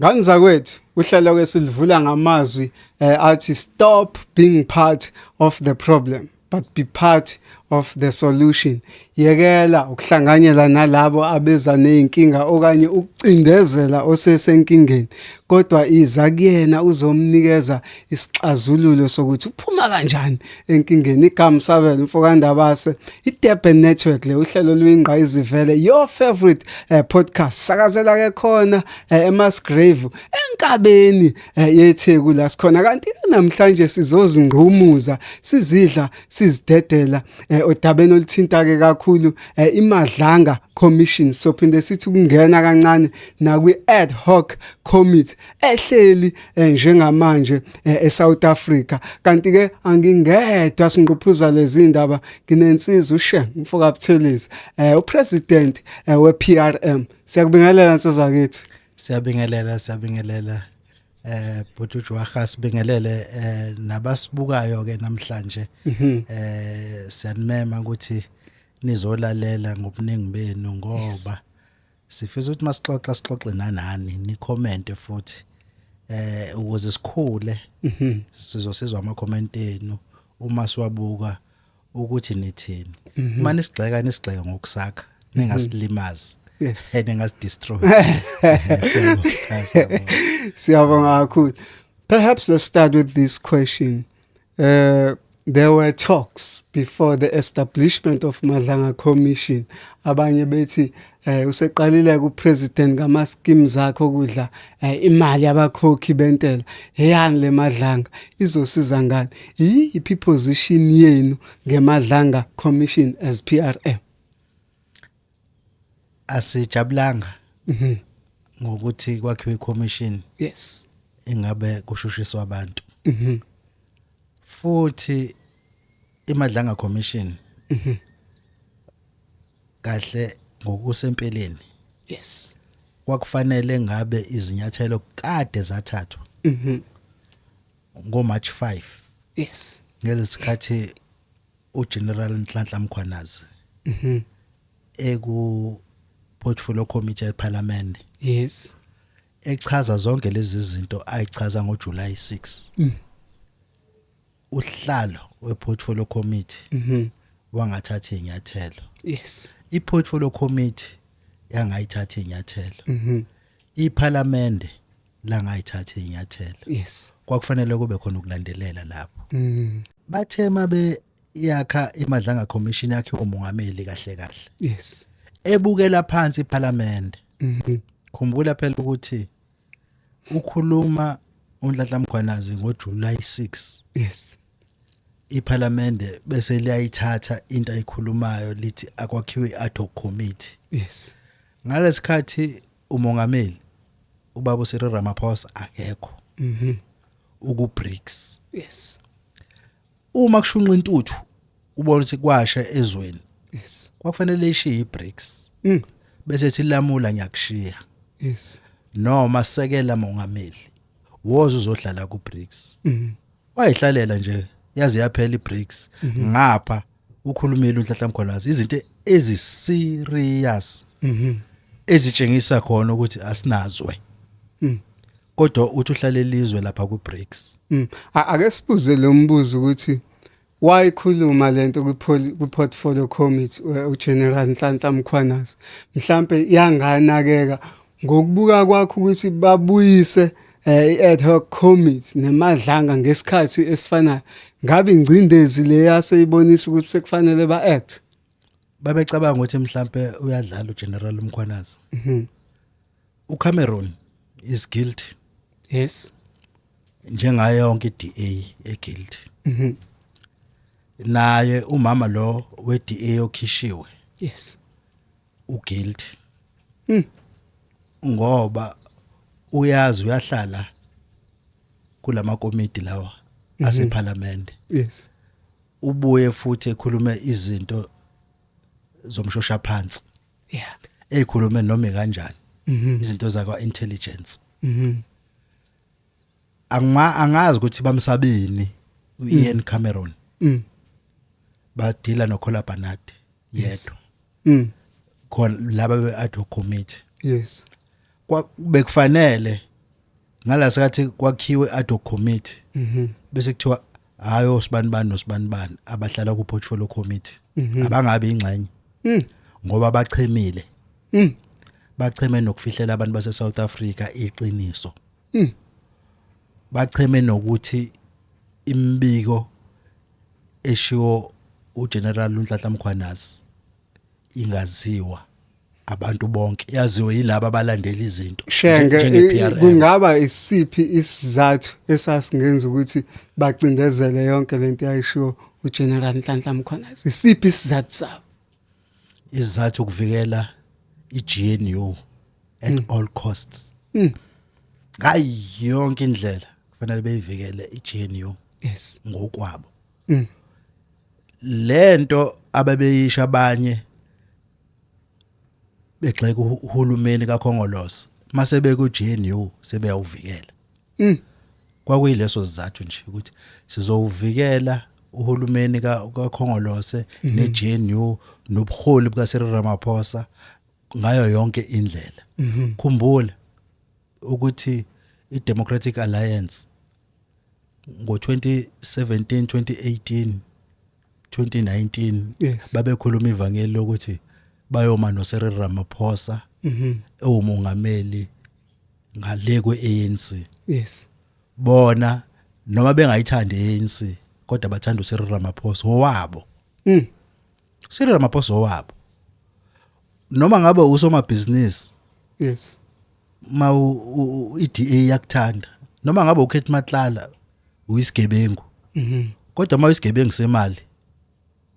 Ngani zakwethu uhlelo ke silivula ngamazwi eh, athi stop being part of the problem but be part of the solution yekela ukuhlanganyela nalabo abeza nezinkinga okanye ukucindezela osesenkingeni kodwa iza kuyena uzomnikeza isixazululo sokuthi uphuma kanjani enkingeni igama sabela mfokandabase i-durban network le uhlelo luyingqa izivele your favorite eh, podcast sakazela ke khona eh, emasgrave enkabeni eh, yetheku la sikhona kanti namhlanje sizozingqumuza sizidla sizidedela eh, odabeni oluthinta ke kakhulu eh, imadlanga commission sophinde sithi ukungena kancane nakwi ad hoc committee ehleli eh, njengamanje eh, eSouth Africa kanti ke angingedwa singquphuza lezi ndaba nginensizwa ushe mfoka Buthelezi eh, upresident wePRM siyakubingelela nsizwa kithi siyabingelela siyabingelela eh bhutuju waha sibingelele eh nabasibukayo ke namhlanje mhm. eh siyanimema ukuthi nizolalela ngobuningi benu ngoba Sifisa ukuthi masixoxa sixoxe nanani ni comment futhi eh ukuze sikhule mhm. sizosizwa ama comment enu uma siwabuka ukuthi nithini mhm. uma nisigxeka nisigxeka ngokusakha ningasilimazi mhm. yes and engasidestroy siyabonga kakhulu perhaps let's start with this question Uh, there were talks before the establishment of Madlanga Commission abanye bethi eh useqalile ku president ngama schemes akhe okudla eh, imali abakhokhi bentela heyani le madlanga izosiza ngani iyiphi position yenu ngemadlanga commission as PRM asijabulanga mhm. ngokuthi kwakhiwe commission yes ingabe kushushiswa abantu mhm. futhi imadlanga commission mhm. kahle ngokusempeleni yes kwakufanele ngabe izinyathelo kade zathathwa mhm ngo March 5 yes ngelesikhathi uGeneral Nhlanhla Mkhwanazi mhm eku portfolio committee yeParliament yes echaza zonke lezi zinto ayichaza ngoJuly 6 mm. uhlalo weportfolio committee mhm wangathatha inyathelo yes iportfolio committee yangayithatha inyathelo mhm iParliament la ngayithatha inyathelo yes kwakufanele kube khona ukulandelela lapho mm. bathe mabe yakha imadlanga commission yakhe umongameli kahle kahle yes ebukela phansi iparliament mhm. khumbula phela ukuthi ukhuluma uNhlanhla Mkhwanazi ngoJuly 6 yes iphalamende bese liyayithatha into ayikhulumayo lithi akwakhiwe i-ad hoc committee yes ngalesikhathi umongameli ubaba uSiri Ramaphosa akekho mhm uku BRICS yes uma kushunqa intuthu ubona ukuthi kwasha ezweni yes kwakufanele ishiye iBRICS mm. bese silamula ngiyakushiya yes noma sekela mongameli woza uzohlala ku BRICS mhm wayihlalela nje yaze yaphela iBRICS mhm. ngapha ukhulumile uNhlanhla Mkhwanazi izinto ezi serious mhm ezitshengisa khona ukuthi asinazwe Mm. kodwa uthi uhlale lizwe lapha ku BRICS Mm. A- ake sibuze lo mbuzo ukuthi wayikhuluma lento kwi poli- kwi portfolio committee u- uGeneral Nhlanhla Mkhwanazi mhlambe yanganakeka Ngokubuka kwakho ukuthi babuyise eh, i-ad hoc committee nemadlanga ngesikhathi esifanayo ngabe ingcindezi le yaseyibonisa ukuthi sekufanele ba-act babecabanga ukuthi mhlampe uyadlala uGeneral Mkhwanazi mhm. uCameron is guilty yes njengayo yonke iDA eguilty mhm. naye umama lo weDA okhishiwe yes u guilt hmm. ngoba uyazi uyahlala kulama komiti lawa mhm. ase parliament yes ubuye futhi ekhulume izinto zomshosha phansi yeah ezikhulume noma kanjani mhm. izinto zakwa intelligence mhm angima angazi ukuthi bamsabini uIan mm. Cameron mm. badila noKhola Barnard yedwa mm. khona laba be-ad hoc committee yes bekufanele ngala sikathi kwakhiwe ad hoc committee mhm. bese kuthiwa hayi osibani bani nosibani bani abahlala ku portfolio committee mhm. abangabe ingxenye mm. ngoba bachemile mm. bacheme nokufihlela abantu base South Africa iqiniso bacheme nokuthi imibiko eshiwo uGeneral uNhlanhla Mkhwanazi ingaziwa abantu bonke yaziwe yilabo abalandela izinto shenge kungaba isiphi isizathu esasingenza ukuthi bacindezele yonke lento yayishiwo uGeneral Nhlanhla Mkhwanazi isiphi isizathu sabo izizathu ukuvikela iGNU at mm. all costs mm. ngayo yonke indlela kufanele beyivikele iGNU yes ngokwabo mm. lento ababeyisha abanye begxeka uhulumeni kaKhongolose mase beku GNU sebeyawuvikela Mm. Kwakuyileso sizathu nje ukuthi sizowuvikela uhulumeni kaKhongolose mhm. neGNU nobuholi bukaSiril Ramaphosa ngayo yonke indlela. Mhm. Khumbula ukuthi iDemocratic Alliance ngo-2017 2018 2019 yes. babekhuluma ivangeli lokuthi bayoma no Cyril Ramaphosa mhm ewumongameli ngale kweANC yes bona noma bengayithandi ANC kodwa bathanda uSiril Ramaphosa owabo mm Siril Ramaphosa owabo noma ngabe usomabhizinisi yes ma iDA yakuthanda noma ngabe ukhethi matlala uyisigebengu mhm kodwa uma uyisigebengu semali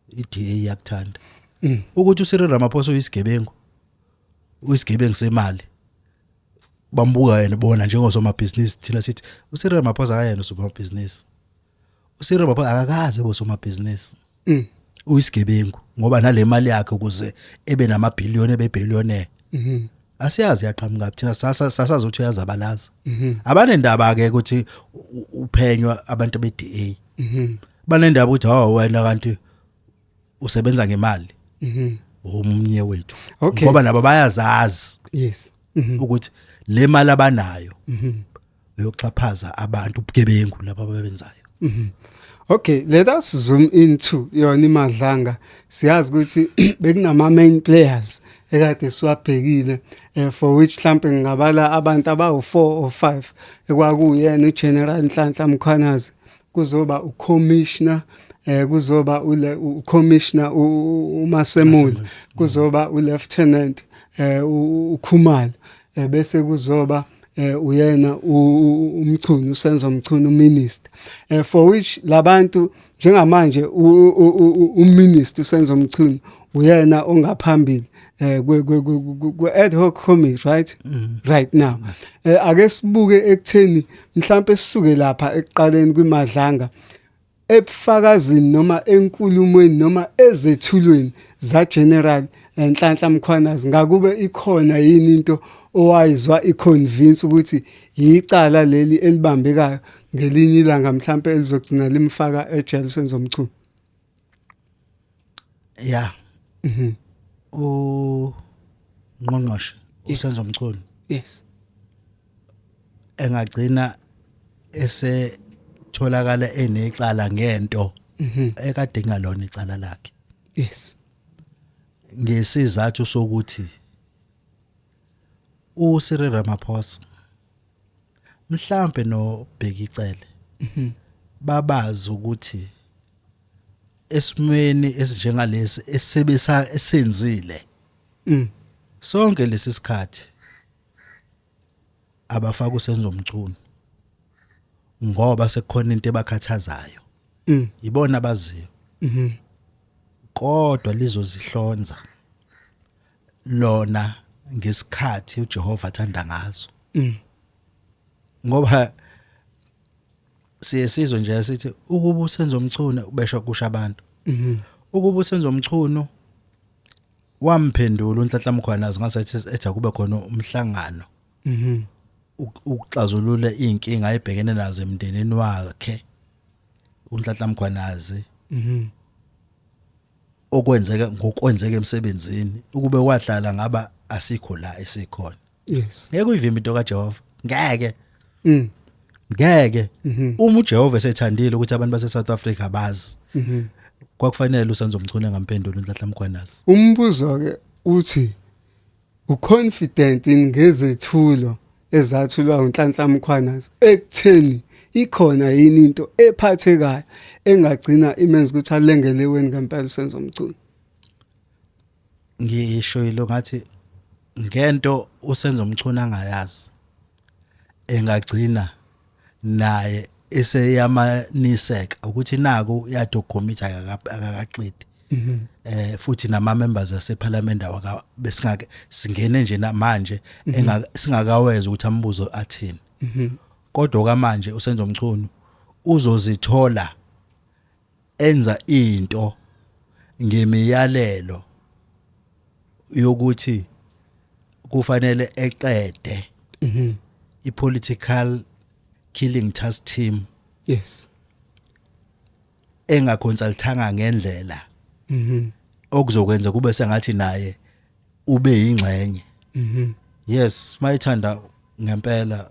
iDA yakuthanda mm. ukuthi uSiril Ramaphosa uyisigebengu uyisigebengu semali bambuka yena bona njengosomabhizinisi thina sithi uSiril Ramaphosa akayena usomabhizinisi uSiri baba akakaze bosomabhizinisi mm. uyisigebengu ngoba nale mali yakhe ukuze ebe namabhiliyoni ebebillionaire mhm asiyazi yaqhamuka thina sasa sasazothi uyazabalaza mhm abanendaba ke ukuthi uphenywa abantu be DA mhm banendaba ukuthi hawa wena kanti usebenza ngemali mhm omnye wethu ngoba nabo bayazazi yes mhm. ukuthi le mali abanayo mhm uyoxhaphaza abantu ubugebengu laba ababenzayo mhm. Okay, let us zoom into yona imadlanga. Siyazi ukuthi bekunama main players ekade siwabhekile eh, for which mhlambe ngingabala abantu abawu4 or 5 ekwakuyena uGeneral Nhlanhla Mkhwanazi kuzoba ucommissioner eh kuzoba ule ucommissioner uMasemule kuzoba ulieutenant eh uKhumalo eh, bese kuzoba eh uyena umchunu usenzo mchunu minister eh for which labantu njengamanje uminister usenzo mchunu uyena ongaphambili eh ku ad hoc committee right mm. right now eh ake sibuke ekutheni mhlambe sisuke lapha ekuqaleni kwimadlanga ebufakazini noma enkulumweni noma ezethulweni zaGeneral eh, Nhlanhla Mkhwanazi ngakube ikhona yini into owayizwa iconvince ukuthi yicala leli elibambekayo ngelinye ilanga mhlampe elizogcina limfaka ejele senza umchunu yeah mhm u ngqongqoshe Yes. usenzo mchunu yes engagcina ese tholakala enecala ngento mhm ekade ngalona icala lakhe yes ngesizathu sokuthi uSiril Ramaphosa mhlambe nobhekicele mhm. babazi ukuthi esimweni esinjengalesi esebesa esenzile mm. sonke lesi sikhathi abafaka usenzo mchunu ngoba sekukhona into ebakhathazayo mm. ibona abaziyo mhm. kodwa lizozihlonza lona ngesikhathi uJehova athanda ngaso mm. ngoba siye sizwe nje sithi ukuba usenza umchunu ubesho kusha abantu mhm. ukuba usenza umchunu wamphendula unhlanhla mkhwana zingase ethi akube khona umhlangano mhm. ukuxazulula izinkinga ayibhekene nazo emndenini wakhe unhlanhla mkhwanazi mhm. okwenzeka ngokwenzeka emsebenzini ukube wahlala ngaba asikho la esikhona yes ngeke uyivimbe into kaJehova ngeke mm ngeke mhm. uma uJehova esethandile ukuthi abantu base South Africa bazi mhm. kwakufanele usenzo mchune ngampendula unhlahla mkhwanazi umbuzo ke uthi Uconfident yini ngezethulo ezathulwa uNhlanhla Mkhwanazi ekutheni ikhona yini into ephathekayo engagcina imenza ukuthi alengele weni ngempela uSenzo Mchunu? Ngisho yilo ngathi ngento uSenzo Mchunu angayazi engagcina naye eseyamaniseka ukuthi naku yato commit akakaqedi mhm. eh futhi nama members asephalamende awaka besingake singene nje namanje mhm. singakaweza ukuthi ambuzo athini mhm. kodwa kamanje usenzo mchunu uzozithola enza into ngemiyalelo yokuthi kufanele eqede mhm. ipolitical killing task team yes engaconsultanga ngendlela mhm okuzokwenza kube sengathi naye ube yingxenye mhm yes mayithanda ngempela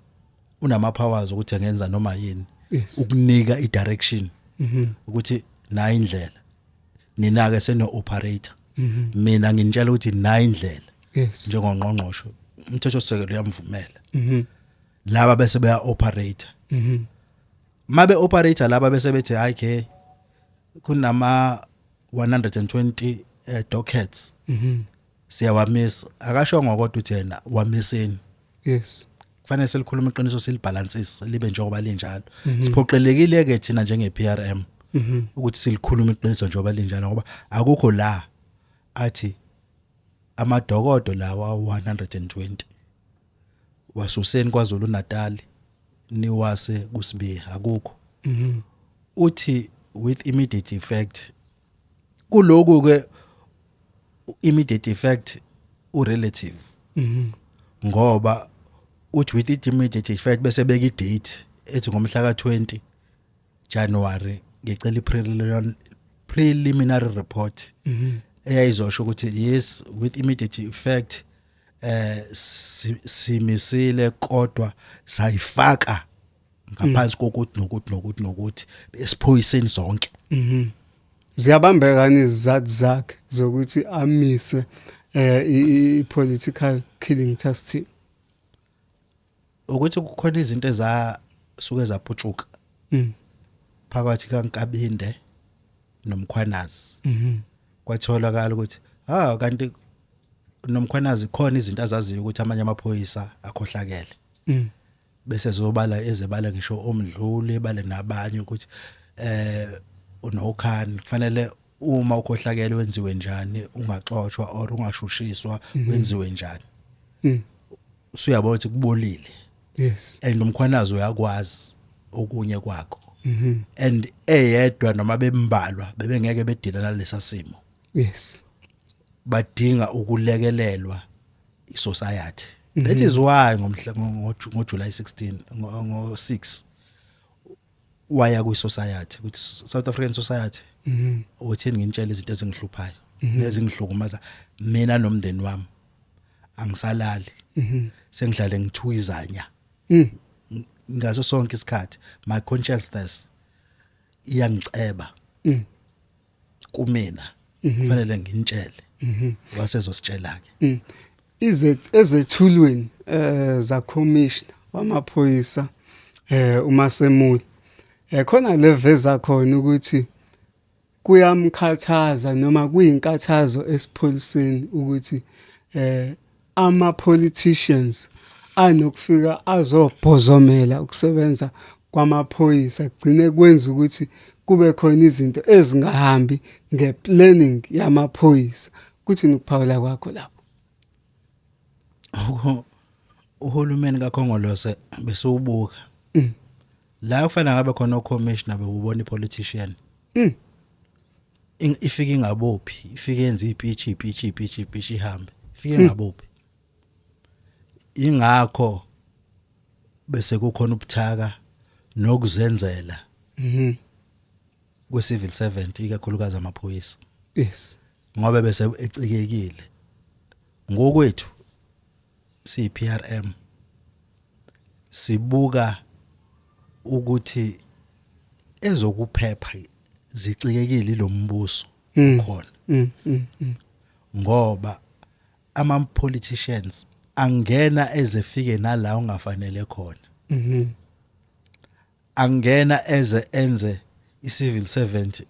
unama powers ukuthi engenza noma yini yes ukunika i direction mhm ukuthi nayi indlela nina ke seno operator mhm mina nginitshela ukuthi nayi indlela yes njengongqongqosho umthetho sekelo uyamvumela mhm laba bese beya operator mhm mabe operator laba bese bethi hayi ke kunama 120 eh, dockets mhm siyawamisa akashongo kodwa uthi yena wamiseni yes kufanele selikhuluma iqiniso silibalansise libe njengoba linjalo mhm. siphoqelekile ke thina njenge PRM mhm. ukuthi silikhuluma iqiniso njengoba linjalo ngoba akukho la athi amadokodo lawa 120 wasuseni kwaZulu Natal niwase kusibiya akukho mhm. uthi with immediate effect kuloku ke immediate effect u relative mhm. ngoba uthi with immediate effect bese beka idate ethi ngomhla ka20 January ngicela ipreliminary preliminary report mhm. eyayizosho ukuthi yes with immediate effect eh simisile kodwa sayifaka ngaphansi mm. kokuthi nokuthi nokuthi nokuthi esiphoyiseni zonke mhm ziyabambeka nezizathu zakhe zokuthi amise eh i political killing task team ukuthi kukhona izinto ezasuke zaputshuka mm. phakathi kaNkabinde nomkhwanazi mhm. kwatholakala ukuthi ha kanti nomkhwanazi khona izinto azaziyo ukuthi amanye amaphoyisa akhohlakele mm. bese zobala ezebala ngisho omdluli bale nabanye ukuthi eh unokhani kufanele uma ukhohlakele wenziwe njani ungaxoshwa or ungashushiswa mhm. wenziwe njani mm. usuyabona ukuthi kubolile yes and umkhwanazi uyakwazi okunye kwakho mhm. and eyedwa noma bembalwa bebengeke bedila nalesa simo yes badinga ukulekelelwa isociety mhm. that is why ngomhla ngo July 16 ngo 6 waya kwi society ukuthi South African society mhm uthini ngintshela izinto ezingihluphayo mhm. nezingihlukumaza mina nomndeni wami angisalali mhm. sengihlale ngithuyizanya mhm. ngaso sonke isikhathi my consciousness iyangiceba kumina mhm. kufanele nginitshele mhm. wasezositshela ke mm. izet ezethulweni eh za commissioner wamaphoyisa eh uma semuli eh khona leveza khona ukuthi kuyamkhathaza noma kuyinkathazo esipholiseni ukuthi eh Ama politicians anokufika azobhozomela ukusebenza kwamaphoyisa kugcine kwenza ukuthi kube khona izinto ezingahambi ngeplanning yamaphoyisa kuthini ukuphawula kwakho lapho uhulumeni kakhongolose besiwubuka mm. la kufanele ngabe khona ocommissioner bewubona ipolitician Mm. Ing- ifike ingabophi ifike yenza ipitch ipitch ipitch ipitch ihambe ifike ingabophi ingakho bese kukhona ubuthaka nokuzenzela Mhm. kwe civil servant ikakhulukazi amaphoyisa Yes. ngoba bese ecikekile ngokwethu siyiPRM sibuka ukuthi ezokuphepha zicikekile lo mbuso mm. khona mm, mm, ngoba ama politicians angena ezefike nala ungafanele khona mhm. angena eze enze i-civil servant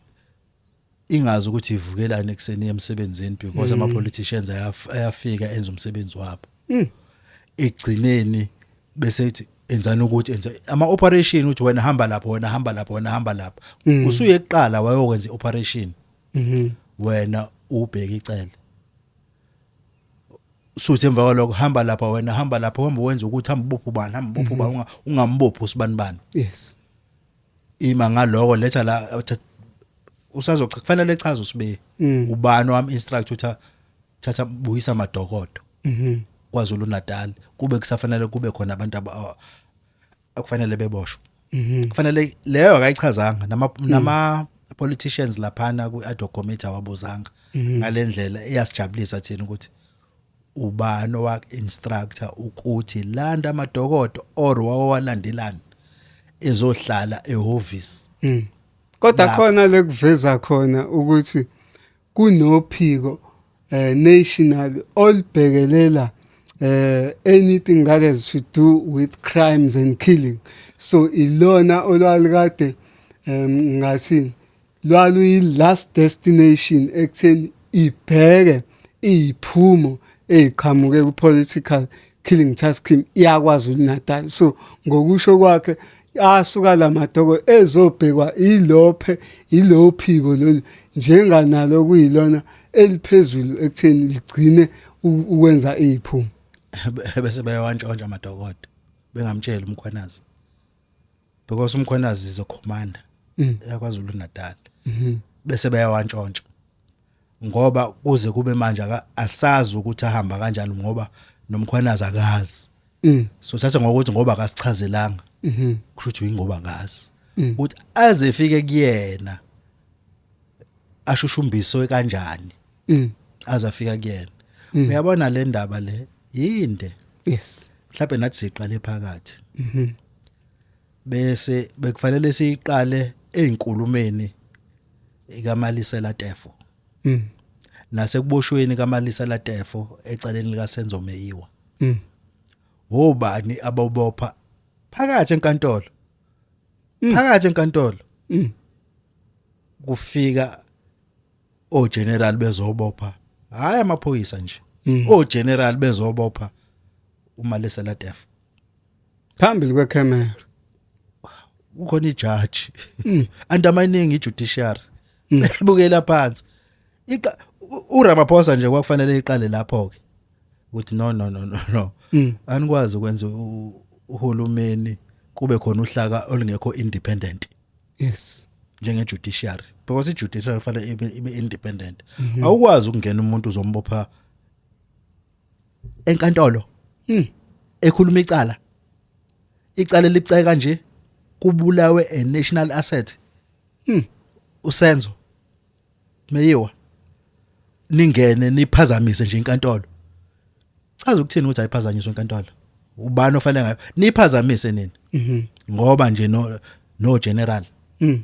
ingazi ukuthi ivukelani ekuseni emsebenzini because mm. ama-politicians ayafika enza umsebenzi wabo mm. ekugcineni bese ithi enzani ukuthi enza ama operation uthi wena hamba lapho wena hamba lapho wena hamba lapho mm. usuye eqala wayokwenza ioperation mhm wena ubheke icele suthi emva kwaloko hamba lapha wena hamba lapha uhamba wenza ukuthi hamba ubopha ubani hamba ubopha ubani unga- ungambophi usibani bani yes ima ngaloko letha la thatha- usazochaza kufanele echaze usibe Mm. ubani wam instruct utha thatha buyisa madokodo mhm KwaZulu Natal kube kusafanele kube khona abantu aba- akufanele beboshwe mhm. kufanele leyo akayichazanga nama mm. nama politicians laphana ku ad hoc committee awabuzanga mhm. ngalendlela iyasijabulisa thina ukuthi ubani owak instructor ukuthi landa amadokodo or wawalandelani ezohlala ehhovisi mm. kodwa khona lekuveza khona ukuthi kunophiko uh, national olubhekelela uh, anything that has to do with crimes and killing so ilona olwalikade um ngathi lwaluyi-last destination ekutheni ibheke iyiphumo eyiqhamuke ku-political killing task team iyakwazulu natal so ngokusho kwakhe asuka la madoko ezobhekwa ilophe ilo phiko lolu njenganalo kuyilona eliphezulu ekutheni ligcine ukwenza iphuma bese bayawantshontsha amadokodo bengamtsheli umkhwanazi because umkhwanazi is a commander mm. yakwaZulu Natal mhm. bese bayawantshontsha ngoba kuze kube manje asazi ukuthi ahamba kanjani ngoba nomkhwanazi akazi mm. so thatha ngokuthi ngoba akasichazelanga mhm. kusho ukuthi uyingoba akazi mm. ukuthi aze efike kuyena ashushumbiswe kanjani mm. aze afika kuyena uyabona le ndaba le yinde yes mhlawumbe nathi siqale phakathi mhm. bese bekufanele siqale ezinkulumeni ikaMalisa Latefo mm. nasekuboshweni kaMalisa Latefo eceleni lika Senzo Meyiwa mm. wobani abobopha phakathi enkantolo mm. phakathi enkantolo mm. kufika o general bezobopha hayi amaphoyisa nje mm. o general bezobopha uMalisa Latefo phambili kwecamera ukhona ijaji mm. undermining ijudiciary mm. bukela phansi iqa uRamaphosa nje kwakufanele iqale lapho ke ukuthi no no no no no mm. anikwazi ukwenza uhulumeni kube khona uhlaka olungekho independent yes njenge judiciary because i judiciary fanele ibe independent mhm. awukwazi ukungena umuntu uzombopha enkantolo hmm. ekhuluma icala icala libucayi kanje kubulawe a national asset hmm. usenzo meyiwa ningene niphazamise nje inkantolo chaza ukuthini ukuthi ayiphazanyiswe inkantolo ubani ofanele ngayo niphazamise nini mhm. ngoba nje no no general mhm.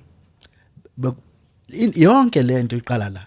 yonke lento iqala la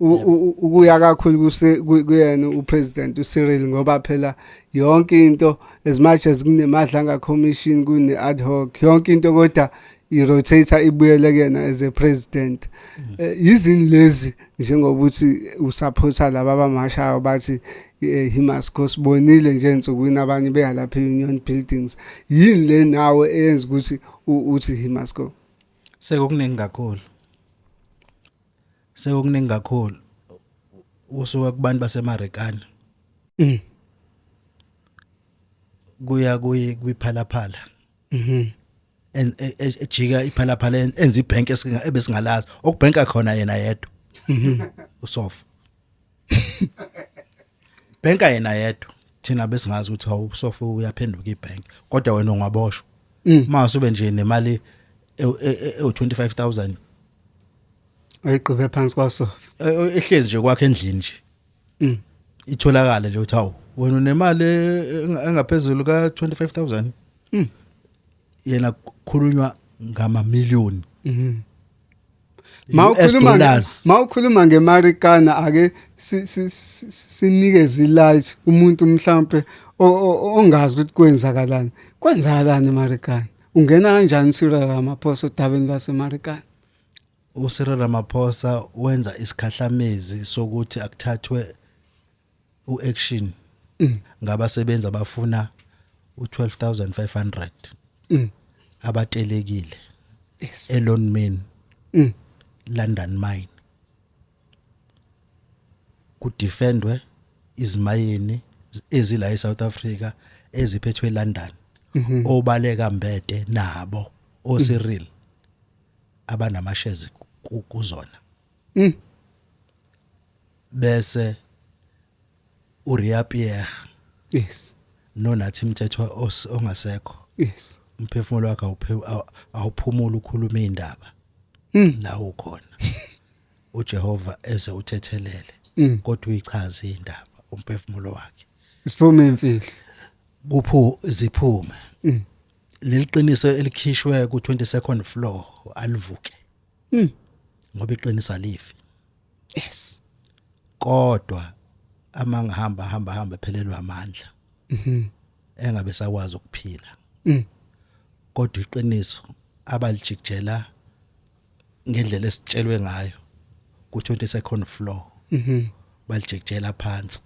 ukuya kakhulu kuyena upresident uCyril ngoba phela yonke into as much as kunemadlanga commission kune ad hoc yonke into kodwa irotator ibuyele kuyena as a president mm. eh, yizini lezi njengoba uthi usupporta laba abamashayo bathi eh, he must go sibonile nje ensukwini abanye beya lapha union buildings yini le nawe eyenza ukuthi uthi he must go sekukuningi kakhulu sekukuningi kakhulu usuka kubantu basemarikana Mm. kuya kuyi kwiphalaphala Mhm. en- e- e- ejika iphalaphala en- enza ibhenki esinga- ebesingalazi okubhenka khona yena yedwa usofa Banker yena yedwa. Thina besingazi ukuthi hawu sofa uyaphenduka ibank kodwa wena ungaboshwa. Mm. Uma usube nje nemali ewu 25000 ayiqhube phansi kwaso. E, e, ehlezi nje kwakhe endlini nje. Mm. Itholakala nje uthi hawu wena unemali e, engaphezulu ka 25000. Mm. Yena kukhulunywa ngama million. Mhm. mawukhuluma mawukhuluma ngemarikana ake sinikeze ilight umuntu mhlambe ongazi ukuthi kwenzakalani kwenzakalani emarikana ungena kanjani Cyril Ramaphosa odabeni lwasemarikana uCyril Ramaphosa wenza isikhahlamezi sokuthi akuthathwe uaction mm. ngabasebenzi abafuna u12500 mm. abatelekile yes. elon main mm. london mine kudefendwe izimayini ezila eSouth Africa eziphethwe eLondon mhm. obaleka mbede nabo oSiril abanama shares kuzona mm. bese uRia Pierre yes nonathi mthethwa ongasekho yes umphefumulo wakhe awuphumula ukhuluma indaba hmm. la ukhona uJehova eze uthethelele hmm. kodwa uyichaza indaba umphefumulo wakhe isiphume imfihlo kuphu ziphume hmm. leliqiniso elikhishwe ku 22nd floor alivuke Mm. Ngoba iqinisa lifi. Yes. Kodwa amanga hamba hamba hamba phelelwa amandla. Mhm. Mm engabe sakwazi ukuphila. Mhm. Mm kodwa iqiniso abalijikjela ngendlela esitshelwe ngayo ku 20 second floor mhm mm balijikjela phansi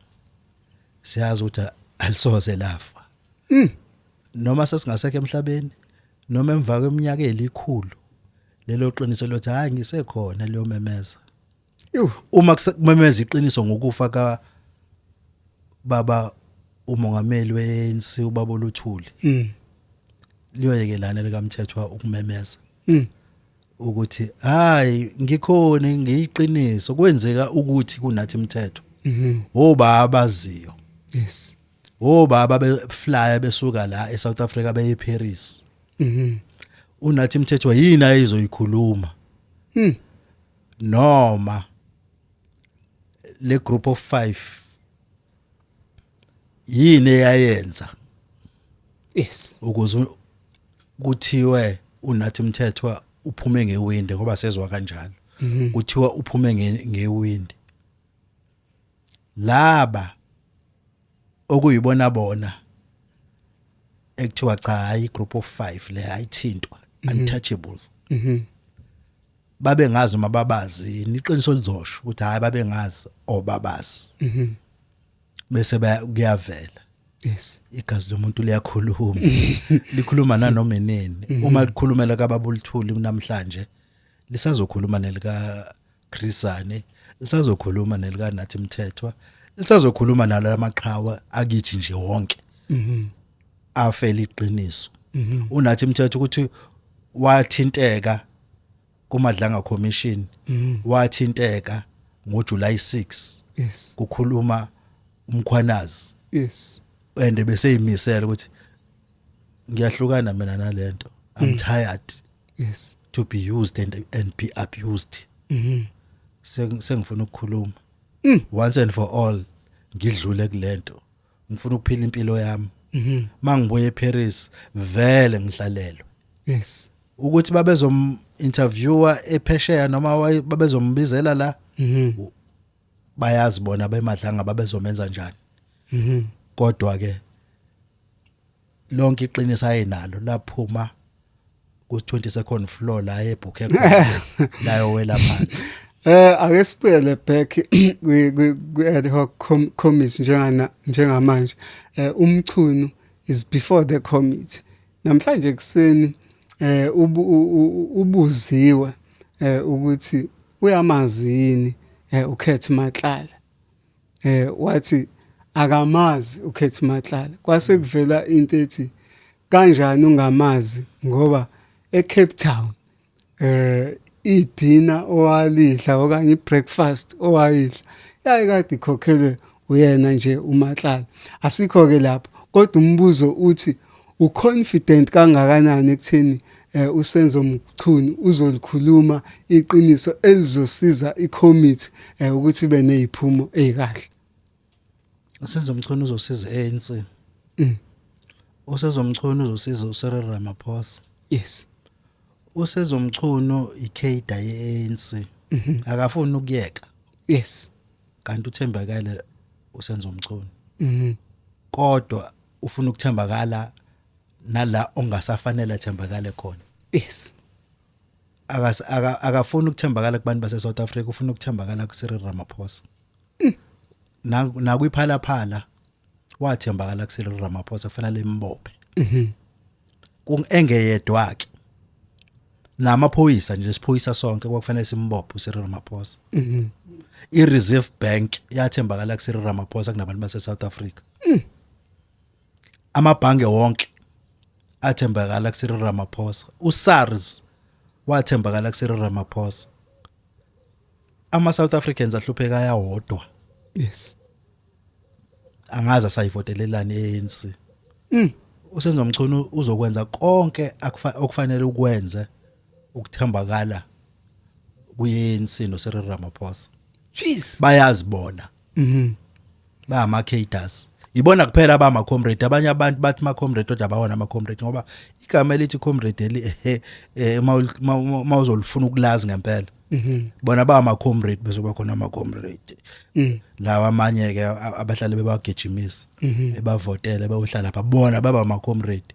siyazi ukuthi alisoze lafa mhm noma sesingasekho emhlabeni noma emva kweminyaka elikhulu lelo qiniso lothi hayi ngisekhona leyo memeza uma kumemeza iqiniso ngokufa ka baba umongameli weANC ubaba oluthuli mm. liyoyekelana likamthethwa ukumemeza mm. ukuthi hayi ngikhona ngiyiqiniso kwenzeka ukuthi kunathi imithetho mhm. obaba abaziyo yes obaba beflya besuka la eSouth Africa beye Paris Mhm. unathi mthethwa yini ayizoyikhuluma Hmm. noma le group of 5 yini eyayenza Yes. ukuze u- kuthiwe unathi mthethwa uphume ngewindi ngoba sezwa kanjalo kuthiwa uphume nge- ngewindi laba okuyibona bona ekuthiwa cha hayi group of 5 le ayithintwa mhm. untouchables mhm babe ngazi uma babazi iqiniso lizosho ukuthi hayi babe ngazi obabazi mhm bese kuyavela yes igazi lomuntu liyakhuluma likhuluma nanoma inini mhm. uma likhulumela kababulithuli namhlanje lisazokhuluma nelika Chrisane lisazokhuluma nelika Nathi Mthethwa lisazokhuluma nalo lamaqhawa akithi nje wonke mhm afeli iqiniso mhm unathi Mthethwa ukuthi wathinteka kumadlanga commission mhm. wathinteka ngoJuly 6 yes kukhuluma umkhwanazi yes and beseyimisela ukuthi ngiyahlukana mina nalento i'm mhm. tired yes to be used and, and be abused mhm Seng- sengifuna ukukhuluma Mm. once and for all ngidlule kulento ngifuna ukuphila impilo yami mhm mangibuye eParis vele ngihlalelwe yes ukuthi babezom interviewer ephesheya noma waye- babezombizela la mhm bayazi bona bemadlanga babezomenza njani mhm kodwa ke lonke iqiniso ayenalo laphuma ku 22nd floor la ebhukhe khona layo wela phansi Eh ake siphele back kwi ad hoc committee njengana njengamanje eh umchunu is before the committee namhlanje kuseni eh ubuziwe eh ukuthi uyamazi yini eh ukhethe matlala eh wathi akamazi ukhethi matlala kwase mm. kuvela into ethi kanjani ungamazi ngoba eCape Town eh idina owalidla okanye ibreakfast owayidla yaye kade ikhokhelwe uyena nje umatlala asikho ke lapho kodwa umbuzo uthi Uconfident kangakanani ekutheni eh, uSenzo Mchunu uzolikhuluma iqiniso elizosiza iCommittee eh, ukuthi ibe neziphumo ezikahle? Usenzo Mchunu uzosiza ANC. Mm. Usenzo Mchunu uzosiza uCyril Ramaphosa. Yes. Usenzo Mchunu ikhayida yeANC. Mhm. Akafuni ukuyeka. Yes. Kanti uthembakele uSenzo Mchunu. Mhm. Kodwa ufuna ukuthembakala nala ongasafanele athembakale khona yes akasi aka- akafuni ukuthembakala kubantu base South Africa ufuna ukuthembakala ku Cyril Ramaphosa na nakwiphala phala wathembakala ku Cyril Ramaphosa kufanele imbophe kung engeyedwa ke namaphoyisa nje lesiphoyisa sonke kwakufanele simbophe uSiril Ramaphosa i-reserve bank yathembakala kuSiril Ramaphosa kunabantu base-south africa Hmm. Amabhange wonke athembakala kuSiril Ramaphosa. USARS wathembakala kuSiril Ramaphosa. Ama South Africans ahlupheka ayawodwa. Yes. Angaza sayivotelelani ANC. Mm. Usenzo Mchunu uzokwenza konke okufanele ukwenze ukuthembakala kuyensi no Cyril Ramaphosa. Jeez. Bayazibona. Mhm. Ba ama cadres. Ibona kuphela ba ama comrade abanye abantu bathi ma comrade kodwa bawona ama comrade ngoba igama elithi comrade eli ehe eh, uma ul- uma- uma uma uzolifuna ukulazi ngempela. Mhm. Bona ba ama comrade bezoba khona ama comrade. Mm. Lawa amanye ke a- abahlale bebagijimisa Mhm. ebavotele bayohlala pha bona baba ama comrade.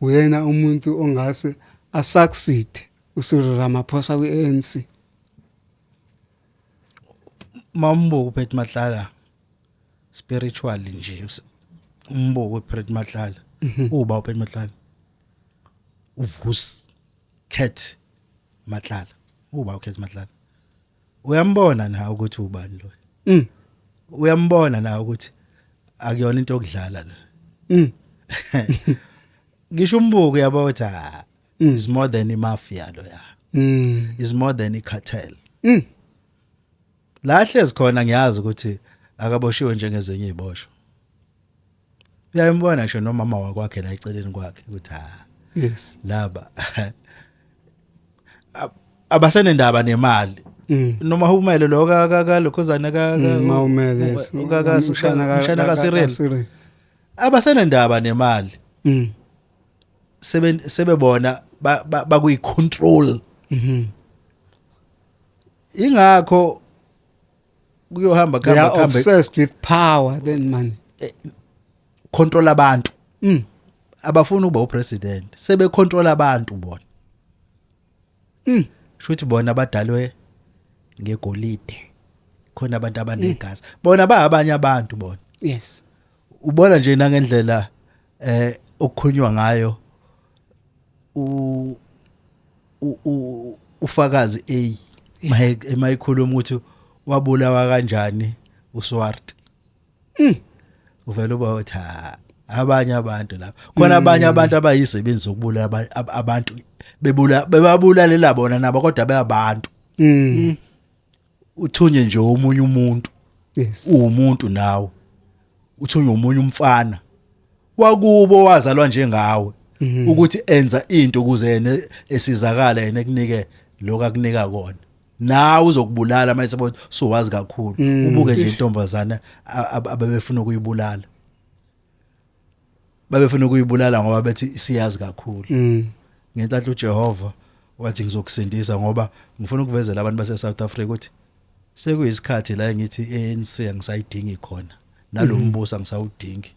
uyena umuntu ongase asucceed uSiril Ramaphosa kwi-ANC mambo uphethe mahlala spiritual nje umbo uphethe mahlala mhm. uba uphethe mahlala uvus cat mahlala uba ukhethe mahlala uyambona na ukuthi ubani lo mm. uyambona na ukuthi akuyona into okudlala lo mm. ngisho umbuko yabo ukuthi ah, mm. is more than imafia lo ya mm. is more than icartel mm. la hlezi khona ngiyazi ukuthi akaboshiwe njengezinye izibosho uyaymbona ngisho nomama wakwakhe la eceleni kwakhe ukuthi ha ah, yes laba abasenendaba nemali mm. noma humele lo ka ka ka lokhozana ka ka mm, umele ka ka sishana ka shana ka sirel abasenendaba nemali mm. sebe sebebona bakuyi control mhm ingakho kuyohamba they khamba are khamba obsessed with power then money control abantu mm. abafuni ukuba upresident sebe control abantu bona mm. shuthi bona abadalwe ngegolide khona abantu abanegazi mm. bona ba abanye abantu bona yes ubona nje nangendlela eh okukhonywa ngayo u u ufakazi A maye emayikhuluma ukuthi wabulawa kanjani uSwart mm. uvela uba uthi abanye abantu lapha khona mm. abanye abantu abayisebenzi zokubula abantu bebula bebabulalela bona nabo kodwa beyabantu mm. mm. uthunye nje omunye umuntu yes uwumuntu nawe uthunye omunye umfana wakubo wazalwa njengawe mhm. ukuthi enza into ukuze yena esizakala yena ekunike lokho akunika kona nawe uzokubulala mase bo sowazi kakhulu mm. ubuke nje intombazana ababefuna ukuyibulala babefuna ukuyibulala ngoba bethi isiyazi kakhulu mm. ngentatha uJehova wathi ngizokusindisa ngoba ngifuna ukuvezela abantu base South Africa ukuthi sekuyisikhathi la ngithi ANC angisayidingi khona nalombuso mm. angisawudingi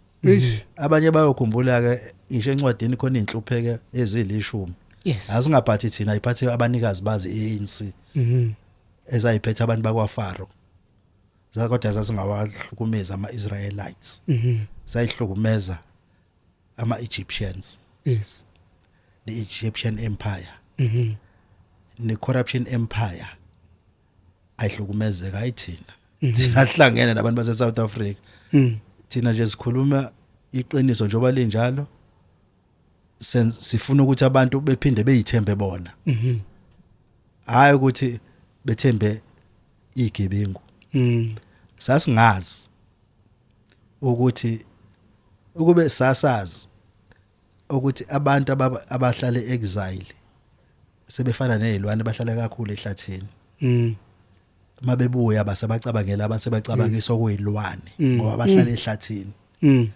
abanye bayokhumbula ke ngisho encwadini khona inhlupheke ezilishumi yes asingaphathi thina iphathe abanikazi bazi ANC mhm ezayiphethe abantu bakwaFaro kodwa zazingawahlukumeza ama-israelites mhm. zayihlukumeza ama-egyptians yes the egyptian empire mhm. ne-corruption empire ayihlukumezeka ayithina mhm. thina sihlangene nabantu base-south africa thina nje sikhuluma iqiniso njengoba linjalo sifuna ukuthi abantu bephinde beyithembe bona mhm hayi ukuthi bethembe igebengu mhm sasingazi ukuthi ukube sasazi ukuthi abantu abahlale exile sebefana nezilwane bahlala kakhulu ehlathini mhm mabebuya base bacabangela abathe bacabangisa okuyilwane Mm. ngoba bahlala ehlathini Mm.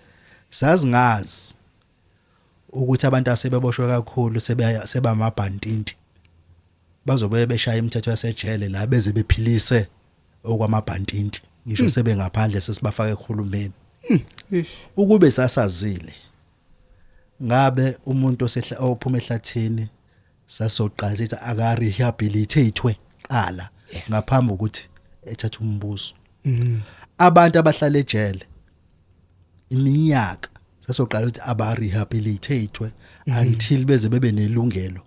sazingazi ukuthi abantu asebeboshwe kakhulu sebe- sebamabhantinti bazobe beshaya imithetho yasejele la beze bephilise okwamabhantinti ngisho sebengaphandle sesibafaka ekhulumeni Ish. ukube sasazile ngabe umuntu osehla- ophuma ehlathini sasoqala sithi aka rehabilitatwe qala Yes. ngaphambi ukuthi ethathe umbuso Mm. abantu abahlala ejele iminyaka sasoqala ukuthi aba rehabilitatwe Mhm. until beze bebe nelungelo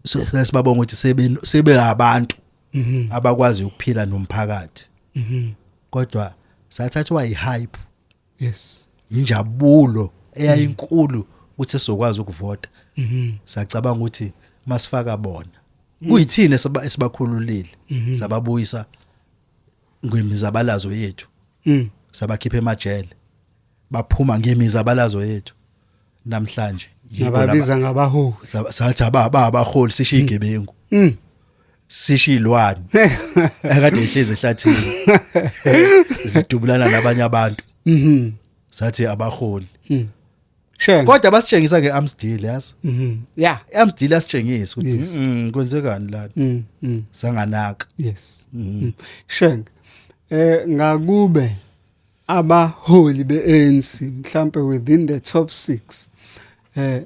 So, sesibabonga ukuthi sebe sebe abantu Mhm. abakwazi ukuphila nomphakathi Mhm. kodwa sathathwa ihype yes injabulo eyayinkulu mm. ukuthi sokwazi ukuvota mhm. sacabanga ukuthi masifaka bona mm. kuyithini esibakhululile mhm. sababuyisa ngemizabalazo yethu mm. sabakhipha emajele baphuma ngemizabalazo yethu namhlanje yababiza ngabaholi sathi ababa abaholi sishiye igebengu sishilwane akade ihlezi ehlathini zidubulana nabanye abantu mhm sathi abaholi mhm. Shem. Kodwa basitshengisa ke Amsdale yazi. Mhm. Yeah. Amsdale asitshengisa ukuthi yes. mm, kwenzekani la. Mhm. Mm. Sanganaka. Yes. Mhm. Mm. Shem. Eh ngakube abaholi beANC mhlambe within the top 6 eh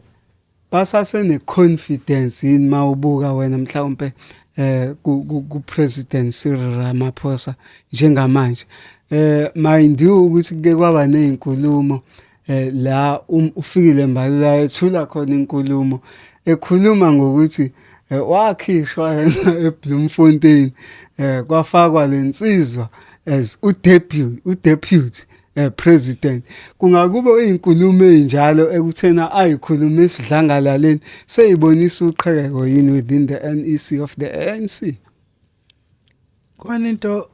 Basase ne confidence yini mawubuka wena mhlawumbe eh ku president Cyril Ramaphosa njengamanje eh mind you ukuthi ke kwaba nezinkulumo eh la um, ufikile mbalula ethula khona inkulumo ekhuluma ngokuthi eh, wakhishwa yena eBloemfontein eh kwafakwa lensizwa as udeputy udeputy eh president kungakube uyinkulumo enjalo ekuthena ayikhuluma esidlangalaleni seyibonisa uqhekeko yini within the NEC of the ANC khona into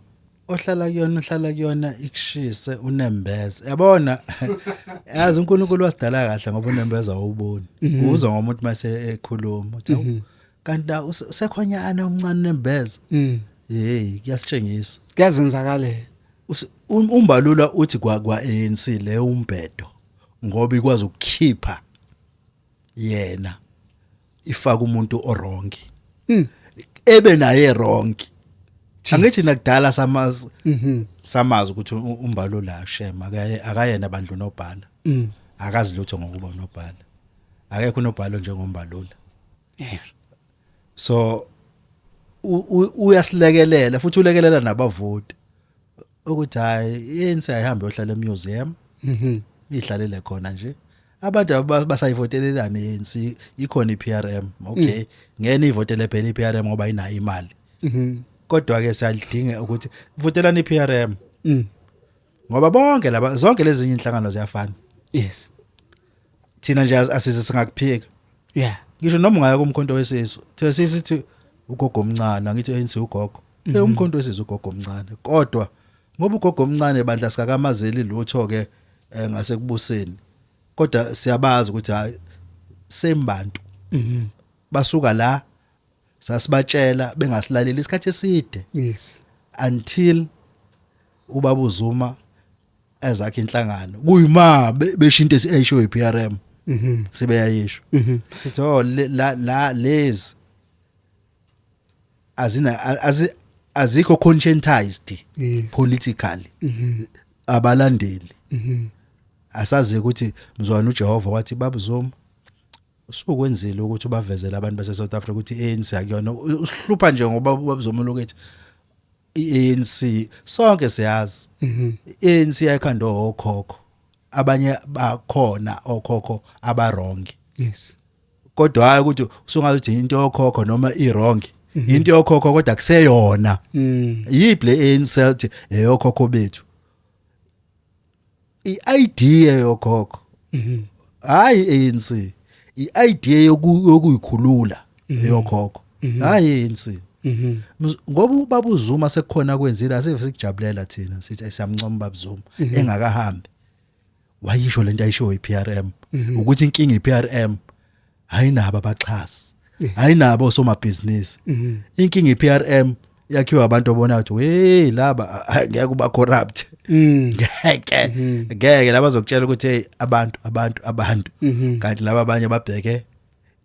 ohlala kuyona uhlala kuyona ikushise unembeze yabona yazi uNkulunkulu wasidala kahle ngoba unembeza awuboni mhm. uzwa ngomuntu mase ekhuluma uthi mhm. kanti na use- usekhonyana umncane unembeza Mm. hey kuyasitshengisa Kuyazenzakalela. Use- um- umbalula uthi kwa kwa ANC le umbhedo ngoba ikwazi ukukhipha yena ifaka umuntu orong Mm. ebe naye wrong angithi nakudala samazi Mhm. samazi ukuthi u- umbalula shem akaye- akayena bandlu nobhala Mm. akazi lutho ngokuba unobhala akekho unobhala njengombalula eh so uyasilekelela futhi ulekelela nabavoti ukuthi hayi yini sayihambe ohlala emuseum mhm ihlalele khona nje abantu abasayivotelelana ANC ikhona iPRM okay mm. ngene ivotele phela iPRM ngoba inayo imali mhm kodwa ke siyalidinga ukuthi votelani iPRM mm ngoba bonke laba zonke lezi zinye inhlangano ziyafana yes thina nje as- asize singakuphika yeah ngisho noma ungaya kumkhonto wesisu thiwe sisithi ugogo omncane angithi ANC ugogo eh umkhonto wesisu ugogo omncane kodwa ngoba ugogo omncane bandla sikakamazeli lutho ke eh, ngasekubuseni kodwa siyabazi ukuthi hayi same bantu basuka la sasibatshela bengasilaleli isikhathi eside yes until ubaba uZuma ezakhe inhlangano kuyima beshinto esisho iPRM mhm sibe yayisho mhm sithi oh la la lezi azina azikho conscientized yes. politically mm -hmm. abalandeli mm -hmm. asazi ukuthi mzwana uJehova wathi babuzoma Usukwenzile ukuthi ubavezele abantu base South Africa ukuthi iANC akuyona. Usihlupha nje ngoba babuzomula ukuthi iANC sonke siyazi. Mhm. iANC yayikhanda okhokho. Abanye bakhona okhokho abarong. Yes. Kodwa hayi ukuthi usungathi into yokhokho noma iwrong. Mhm. Into yokhokho kodwa kuseyona. Mm. Yiphi le ANC eyokhokho bethu? i-idea yokhokho mhm. hayi ANC i-idea yokuyikhulula mhm. yokhokho mhm. hayi ANC ngoba ubaba uZuma sekukhona kwenzile asive sikujabulela thina sithi ayisiyamncoma ubaba Zuma engakahambi wayisho lento ayisho iPRM ukuthi inkinga iPRM hayi nabo abaxhasi hayi nabo osomabhizinisi mhm. inkinga iPRM yakhiwa abantu obona ukuthi we laba ngeke uba corrupt mm. ngeke mhm. ngeke laba zokutshela ukuthi hey abantu abantu abantu mhm. kanti laba abanye babheke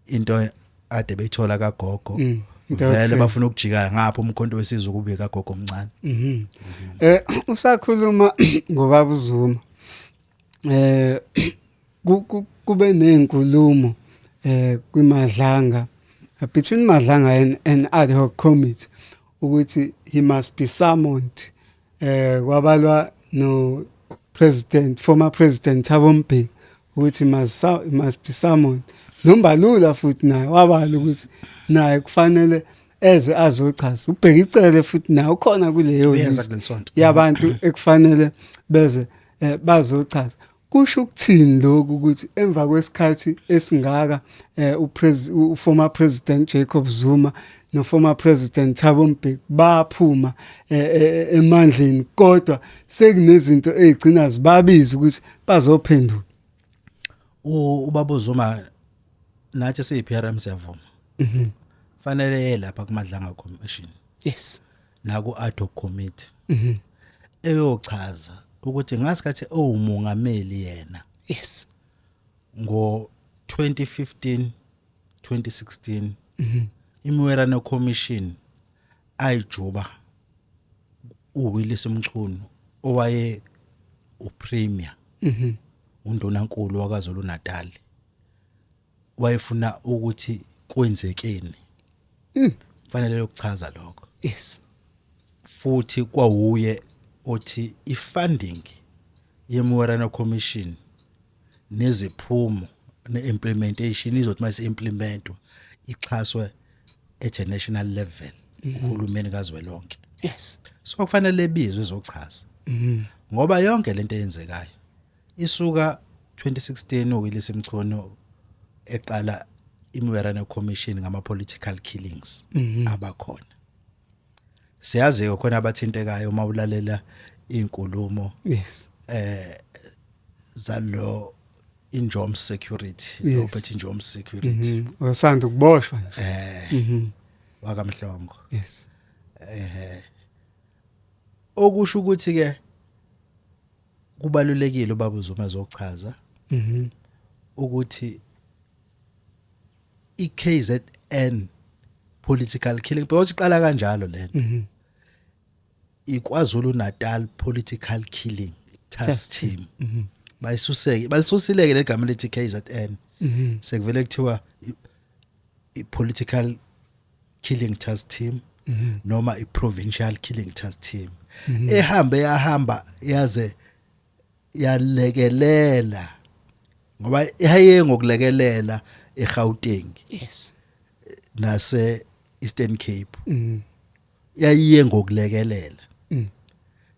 into ade beyithola kagogo mm. vele bafuna ukujika ngapha umkhonto wesizwe kubika gogo omncane eh usakhuluma ngobaba uzuma eh Kube nezinkulumo eh kwiMadlanga between Madlanga and, and ad hoc committee ukuthi he must be summoned eh kwabalwa no president former president Thabo Mbeki ukuthi must must be summoned nombalula futhi naye wabala ukuthi naye kufanele eze azochaza ubheka icele futhi naye ukhona kuleyo yabantu ekufanele beze eh, bazochaza Kusho ukuthini lokhu ukuthi emva kwesikhathi esingaka eh, uformer president Jacob Zuma noformer president Thabo Mbeki baphuma eh, eh, eh, emandleni kodwa sekunezinto ezigcina zibabiza ukuthi bazophendula ubaba Zuma nathi siyi PRM siyavuma mhm. fanele lapha kumadlanga commission yes naku ad hoc committee mhm eyochaza ukuthi ngasikhathi owumongameli yena yes ngo 2015 2016 mhm imiwerano commission ayijuba uWillis Mchunu owaye upremier mhm undonankulu waKwaZulu Natal wayefuna ukuthi kwenzekeni mm. fanele yokuchaza lokho yes futhi kwawuye othi ifunding yeMorana Commission neziphumo neimplementation izothi mase implementwa ixhaswe at a national level mhm. uhulumeni kazwelonke yes so kufanele ebizwe ezochaza mhm. ngoba yonke lento eyenzekayo Isuka 2016 uWillis Mchunu eqala iMwerane Commission ngama political killings mhm. abakhona. Siyazi ke khona abathintekayo uma ulalela izinkulumo. Yes. Eh zalo injom security Robert injom security. Mhm. Osanda ukuboshwa. Eh. Mhm. Wakamhlongo. Yes. Eh. Okusho ukuthi ke kubalulekile ubaba uZuma zochaza mhm ukuthi iKZN political killing because iqala kanjalo lena mhm iKwaZulu Natal political killing task team mhm bayisuseke balisusileke legama lethi KZN mhm sekuvele kuthiwa i- i- political Killing Task Team mm -hmm. noma iProvincial Killing Task Team mm -hmm. ehambe yahamba yaze yalekelela ngoba ihaye ngokulekelela eGauteng yes nase Eastern Cape mm. yayiye ngokulekelela mm.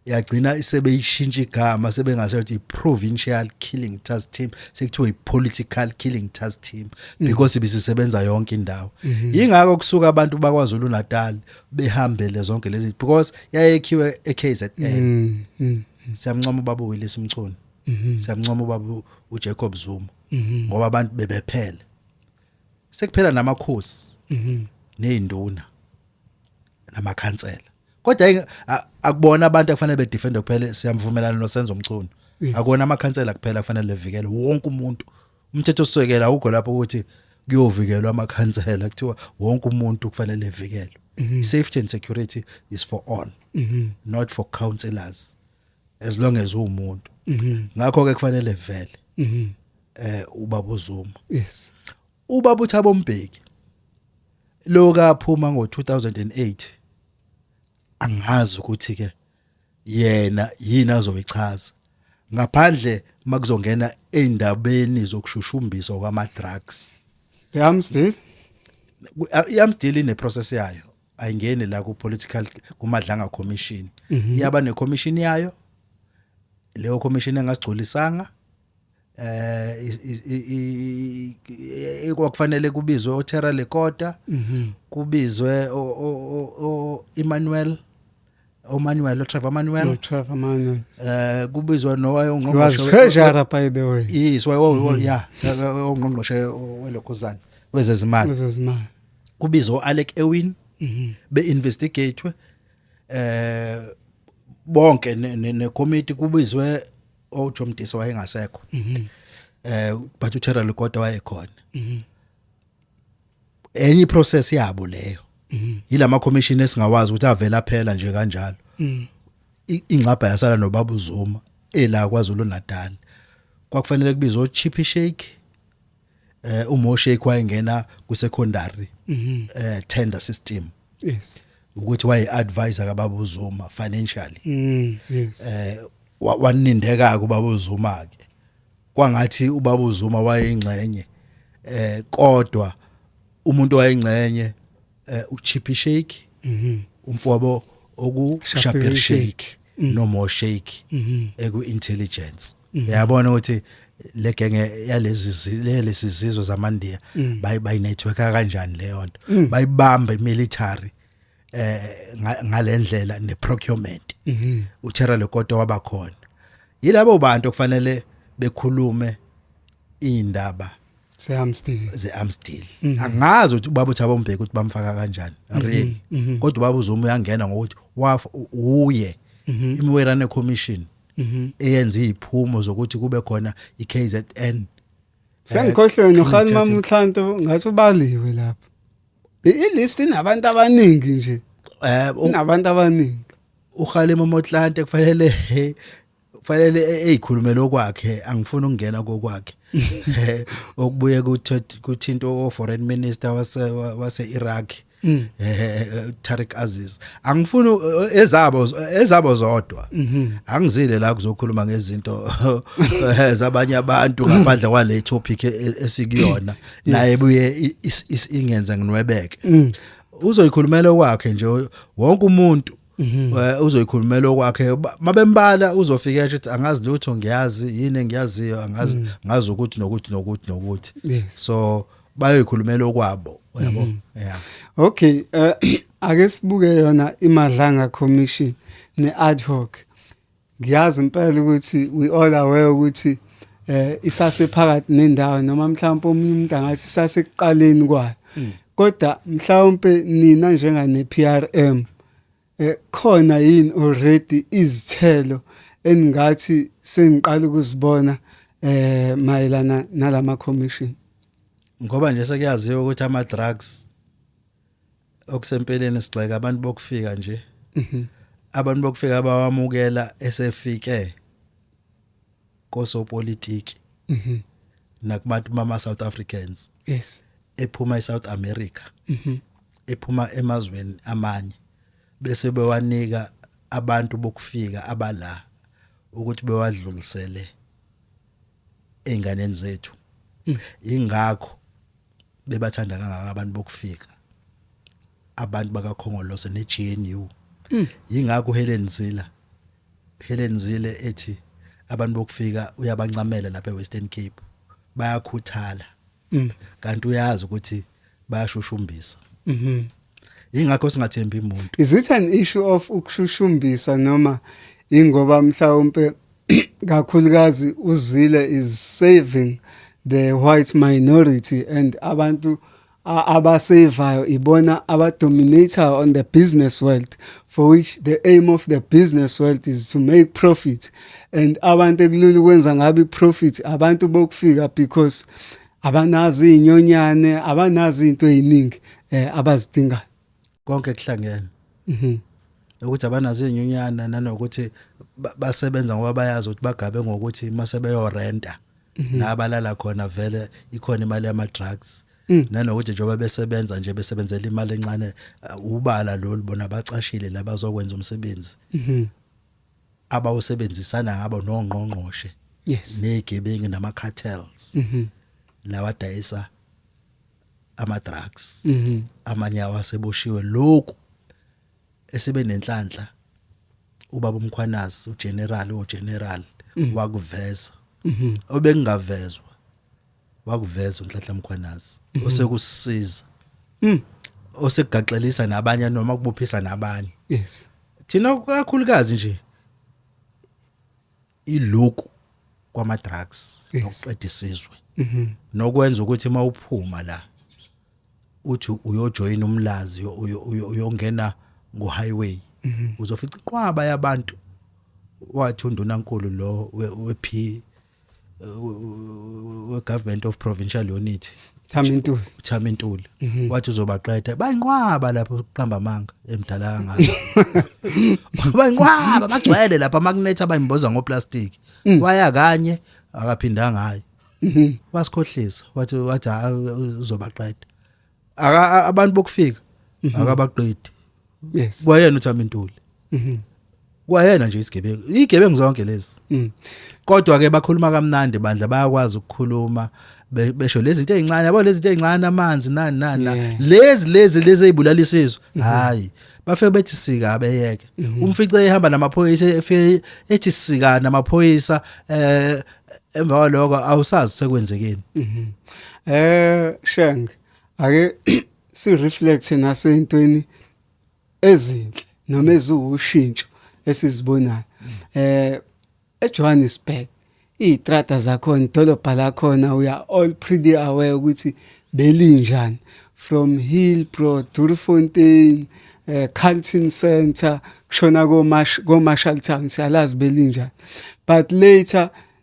yagcina isebeyishintsha igama sebengase ukuthi provincial killing task team sekuthiwa ipolitical killing task team mm. because bisisebenza yonke indawo mm-hmm. ingakho kusuka abantu bakwaZulu Natal behambele zonke lezi because yayekhiwe eKZN mm, mm, siyamncoma ubaba Willis Mchunu mm-hmm. siyamncoma ubaba uJacob Zuma mm-hmm. ngoba abantu bebephele sekuphela namakhosi nezinduna namakhansela kodwa ayike- a- akubona abantu akufanele bedefende kuphela siyamvumelana nosenzo mchunu Yes. akona amakhansela kuphela kufanele levikele wonke umuntu umthetho osekela awukho lapho ukuthi kuyovikelwa amakhansela kuthiwa wonke umuntu kufanele levikelwe Mhm. safety and security is for all not for councillors as long as uwumuntu Mhm. ngakho ke kufanele vele eh ubaba uzuma yes Ubaba uThabo Mbeki lo kaphuma ngo-2008 angazi ukuthi ke yena yini azoyichaza ngaphandle makuzongena eindabeni zokushushumbiswa kwama drugs yamsdil yamsdil ine process yayo ayingeni la ku political kumadlanga commission mhm. iyaba ne commission yayo leyo commission engasigculisanga eh kwakufanele kubizwe oTerra Lekota mhm. kubizwe o Emmanuel oManuel oTrevor Manuel oTrevor Manuel eh kubizwa nowaye ongqongqoshe wazikhejara by the way yes mhm. yeah ongqongqoshe welokhuzana wezezimali wezezimali kubizwa uAlec Ewin mhm. be investigatwe eh bonke ne committee kubizwe oJoe Mdisa wayengasekho mhm eh but uThera Lugoda wayekhona mhm enye process yabo leyo mhm yilama commission esingawazi ukuthi avela phela nje kanjalo mhm ingcabha yasala nobabu Zuma ela kwaZulu Natal kwakufanele kubizwe oChippy Shake eh uMoshe kwayengena ku secondary mhm. eh tender system yes ukuthi waye advisor kaBaba uZuma financially mm, yes eh wanindeka kuBaba uZuma ke kwangathi uBaba uZuma wayengxenye eh kodwa umuntu wayengxenye eh, uchippy shake mhm umfowabo oku Shapir shapir shake shake. Mm. no more shake mhm eku intelligence Mhm. yabona ukuthi le genge yalezi zi- le- lesi zizwe zamandiya Mm. bayi bayi network kanjani leyo nto Mm. bayibamba imilitary eh nga- ngalendlela ne procurement mhm uthera lekoto wabakhona yilabo bantu okufanele bekhulume indaba ze Amstel ze Amstel mm -hmm. angazi ukuthi ubaba uthaba umbheke ukuthi bamfaka kanjani mm -hmm. really mm -hmm. kodwa ubaba uzuma uyangena ngokuthi wafa uye mm -hmm. imiwerane commission mm -hmm. eyenza iziphumo zokuthi kube khona iKZN eh, Sengikhohlwe nokhali mamhlanto ngathi ubaliwe lapha ilist inabantu abaningi nje eh unabantu abaningi ukhale momotlante kufanele fanele e- eyikhulumele okwakhe angifuni ukungena kokwakhe Eh, okubuye kuthe- kuthinta o foreign minister wase wase Iraq Mm. eh Tariq Aziz angifuni u- ezabo ezabo zodwa Mhm. angizile la kuzokhuluma ngezinto eh, zabanye abantu ngaphandle kwale topic e- esikuyona naye buye i- is- is- ingenze nginwebeke Mm. uzoyikhulumela okwakhe nje wonke umuntu Mhm. Eh, uzoyikhulumela okwakhe Ba- mabembala uzofika esho ukuthi angazi lutho ngiyazi yini engiyaziyo angazi Mhm. ngazi ukuthi nokuthi nokuthi nokuthi Yes. so bayoyikhulumela okwabo uyabo Mhm. yeah Okay, eh ake sibuke yona iMadlanga Commission ne ad hoc. ngiyazi impela ukuthi we all aware ukuthi eh isasephakathi nendawo noma mhlawumbe omunye umuntu angathi isasekuqaleni kwayo mm. kodwa mhlawumbe nina njengane PRM eh khona yini already izithelo eningathi sengiqala ukuzibona eh mayelana nalama commission ngoba nje sekuyaziwa ukuthi ama drugs okusempeleni sigxeka abantu bokufika nje mhm. abantu bokufika abawamukela esefike kosopolitiki mhm. nakubantu mama South Africans yes ephuma eSouth America mhm. ephuma emazweni amanye bese bewanika abantu bokufika abala ukuthi bewadlulisele einganeni zethu mm. ingakho bebathanda kangaka abantu bokufika abantu bakakhongolose neGNU mm. yingakho Helen Zila Helen Zila ethi abantu bokufika uyabancamela lapha eWestern Cape bayakhuthala mm. kanti uyazi ukuthi bayashushumbisa mhm ingakho singathembi umuntu is it an issue of ukushushumbisa noma ingoba mhlawumbe kakhulukazi uzile is saving the white minority and abantu abasevayo ibona abadominator on the business world for which the aim of the business world is to make profit and abantu ekulula ukwenza ngabe profit abantu bokufika because abanazi inyonyane abanazi into eziningi eh, abazidingayo konke kuhlangene mhm ukuthi abanazo inyunyana nanokuthi ba- basebenza ngoba bayazi ukuthi bagabe ngokuthi mase beyorenta Mhm. la balala khona vele ikhona imali yama drugs Mm. nanokuthi njengoba besebenza nje besebenzela imali encane uh, ubala lolu bona bacashile labazokwenza umsebenzi mhm abawusebenzisana ngabo nongqongqoshe yes negebengu nama cartels mhm lawadayisa ama drugs mhm. amanye awaseboshiwe lokhu esebenenhlanhla ubaba umkhwanazi ugeneral ogeneral mhm. wakuveza mhm. obengingavezwa wakuveza unhlanhla mkhwanazi osekusiza mm. osekugaxelisa nabanye noma kubophisa nabanye yes thina kakhulukazi nje iloku kwama drugs nokuqeda isizwe mhm. nokwenza ukuthi mawuphuma la uthi uyojoin umlazi uyongena ngo highway mhm. uzofica iqwaba yabantu wathi undunankulu lo wephi we government of provincial unity Thamintuli. Thamintuli. Mhm. Wathi uzobaqeda. Bayinqwaba lapho ukuqamba amanga emdala kangaka. Bayinqwaba bagcwele lapha makunetha bayimboza ngoplastic. Mm. Waya kanye akaphindanga hayi. Mhm. Wasikhohlisa wathi wathi uzobaqeda. Aka abantu bokufika mhm. akabaqedi. yes kwayena uthami ntuli mhm kwayena nje isigebengu igebengu zonke lezi mhm kodwa ke bakhuluma kamnandi bandla bayakwazi ukukhuluma besho lezi zinto ezincane yabo lezi zinto ezincane amanzi nani nani lezi lezi lezi ezibulala isizwe mhm. hayi bafike bethi sika abeyeke mhm. umfice ehamba namaphoyisa efike ethi sika namaphoyisa eh emva kwaloko awusazi sekwenzekeni mhm. eh sheng ake si reflect nasentweni ezinhle noma eziwushintsho esizibonayo eh eJohannesburg izitrata zakhona idolobha lakhona we are all pretty aware ukuthi belinjani from Hillbrow Durfontein eh Carlton Center kushona ko Marshall Town siyalazi belinjani but later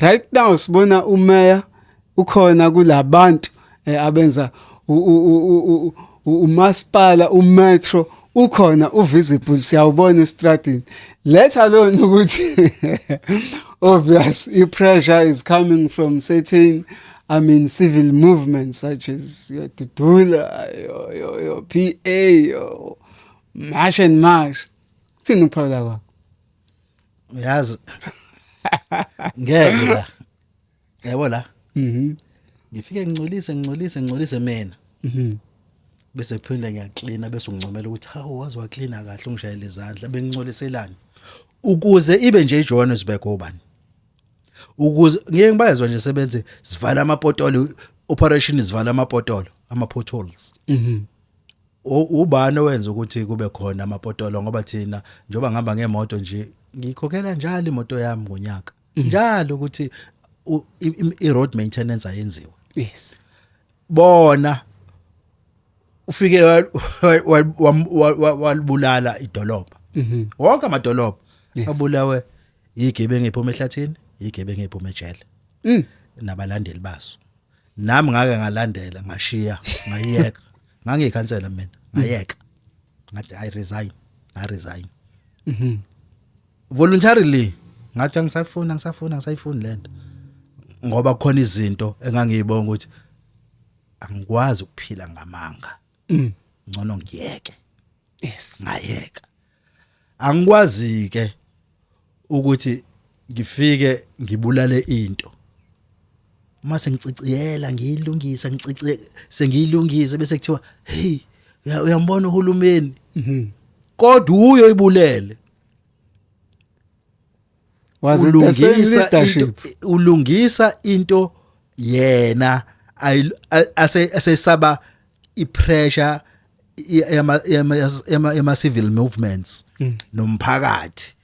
right now sibona umeya ukhona kulabantu eh, abenza umasipala umetro ukhona uvisible siyawubona estradini let alone ukuthi obvious i-pressure is coming from certain I mean, civil movements such as your Tutula, your, your, your PA, your March and March. Kuthini ukuphawula kwakho? uyazi ngeke la yabo la mhm ngifike ngincolise ngincolise ngincolise mina mhm bese phinde ngiyaklina bese ungcomela ukuthi hawu wazi waklina kahle ungishayela izandla bengincoliselani ukuze ibe nje iJohannesburg obani ukuze ngeke ngibayezwa nje sebenze sivala amapotolo operation sivala amapotolo ama potholes mhm ubani owenza ukuthi kube khona amapotolo ngoba thina njengoba ngihamba ngemoto nje ngikhokhela njalo imoto yami ngonyaka mhm. njalo ukuthi i-road maintenance ayenziwe yes bona ufike walibulala idolobha mhm. wonke amadolobha abulawe yigebengu ephuma ehlathini yigebengu ephuma ejele mm. nabalandeli baso nami ngake ngalandela ngashiya ngayiyeka ngangiyikhansela mina ngayeka ngathi i resign i resign mhm voluntarily ngathi angisafuna ngisafuna ngisayifuni lento ngoba khona izinto engangiyibonga ukuthi angikwazi ukuphila ngamanga mm. ngcono ngiyeke yes ngayeka angikwazi ke ukuthi ngifike ngibulale into uma sengiciciyela ngiyilungisa ngicice sengiyilungise bese kuthiwa hey uyambona uhulumeni mhm. kodwa uyoyibulele was it the same leadership ulungisa into yena asesaba ipressure yama yama yama civil movements mm. nomphakathi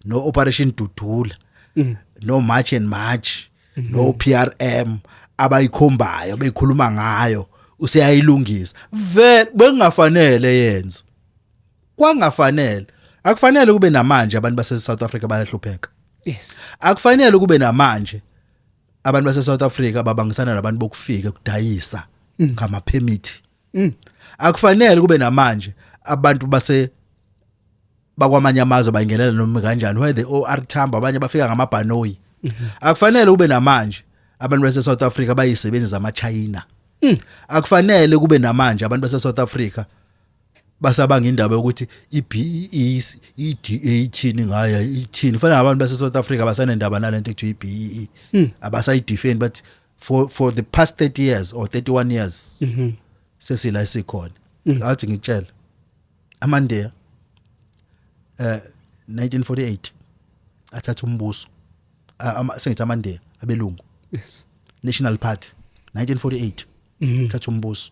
no operation dudula mm. no march and march mm-hmm. no PRM abayikhombayo beyikhuluma ngayo useyayilungisa vele bengafanele yenza kwangafanele akufanele kube namanje abantu base South Africa bayahlupheka yes akufanele kube namanje abantu base South Africa babangisana nabantu bokufika kudayisa mm. ngama permit mm. akufanele kube namanje abantu base bakwamanye amazwe bayingenela noma kanjani where the OR Tambo abanye bafika ngamabhanoyi mm-hmm. akufanele kube namanje abantu base South Africa bayisebenzi zama China mm. akufanele kube namanje abantu base South Africa basabanga indaba yokuthi i-BEE i-DA ithini ngayo ithini fanele abantu base South Africa basanendaba nalento ekuthiwa i-BEE hmm. abasayidefend but for for the past 30 years or 31 years mhm. sesila isikhona hmm. athi ngikutshela amandeya eh 1948 athatha umbuso sengithi amandeya abelungu yes national party 1948 mhm. thatha umbuso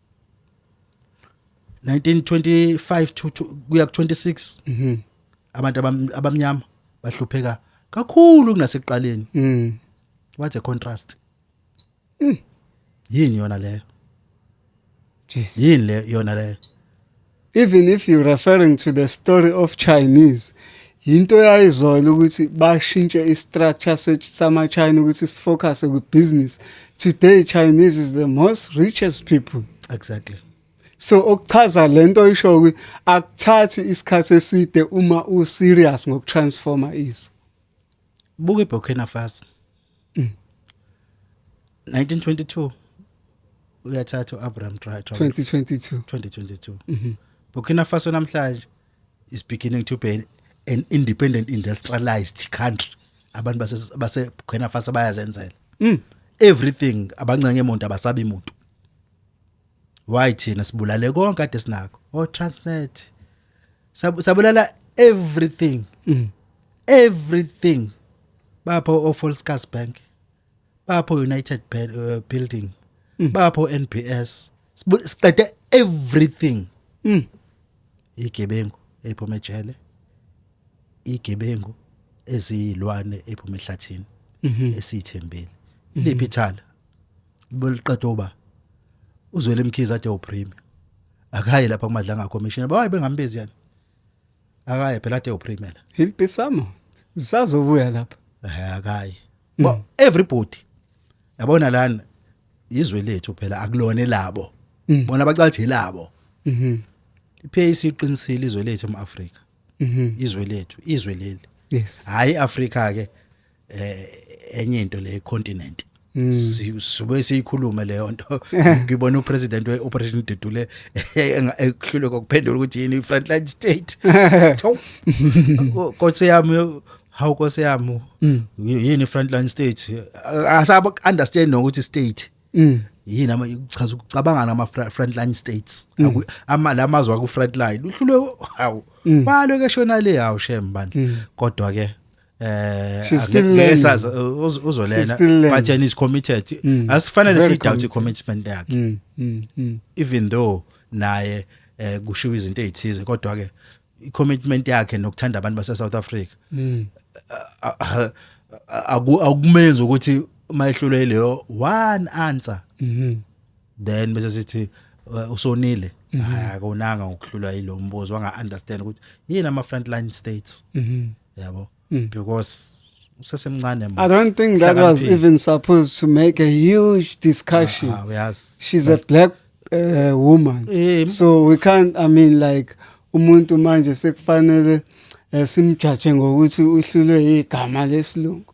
1925 to to- kuya ku 26 Mhm. abantu abam- abamnyama bahlupheka kakhulu kunasekuqaleni Mm. what a contrast yini yona leyo Jesus. yini le yona leyo Even if you referring to the story of Chinese yinto yayizola ukuthi bashintshe i-structure sama-china ukuthi sifocuse kwi-business today chinese is the most richest people exactly so okuchaza le nto isho ukuthi akuthathi isikhathi eside uma u-serious ngokutransforma izwe buka iBurkina Faso 1922 uyathatha uAbraham Traore 2022 2022 mhm. Burkina Faso namhlanje is beginning to be an independent industrialized country abantu base base Burkina Faso bayazenzela mm. everything abancenge emuntu abasabi muntu why thina sibulale konke kade sinako o oh, transnet Sab- sabulala everything Mm. everything bapha ofolscas bank bapha united Ba- uh, building Mm. bapha onbs Sibu- siqede everything Mm. igebengu ephuma ejele igebengu eziyilwane ephuma ehlathini Mhm. esiyithembile liphi ithala beliqeda uba uzwele mkhize ade uprime akaye lapha kumadlanga commission bawaye bengambezi yani akaye phela ade uprime la impisamo sazobuya lapha eh akaye mm. but everybody yabona lana izwe lethu phela akulone labo mm. bona bacathi labo mhm iPAC iqinisile izwe lethu eMafrika mhm izwe lethu izwe leli yes hayi Africa ke eh enye into le continent Mm. sibe siyikhuluma leyo nto ngibona upresident weoperation Dudule ekuhlule kokuphendula ukuthi yini ifrontline state kodwa yami how kodwa yami mm. yini frontline state asaba understand nokuthi state mm. yini ama uchaza ukucabanga nama frontline states ama lamazwe aku frontline uhlule hawu balo ke shona le hawu shem bandla kodwa ke eh She's still angeke learning. sazi, uh, uz- She's uzolena still learning. but yena is committed Mm. asifanele Very sidoubt committed. commitment yakhe Mm, mm, mm. even though naye eh kushiwa izinto ezithize kodwa ke commitment yakhe nokuthanda abantu base South Africa Mm. a- a- aku- akumenzi ukuthi uma ehlulwe leyo one answer Mhm. then bese sithi uh, usonile Mhm. hayi akonanga ngokuhlulwa yilo mbuzo wanga understand ukuthi yini ama frontline states Mhm. yabo mm. because usesemncane manje I don't think that was even supposed to make a huge discussion uh, yes. she's but, a black uh, woman um, so we can't I mean like umuntu manje sekufanele eh, simjaje ngokuthi uhlulwe igama lesilungu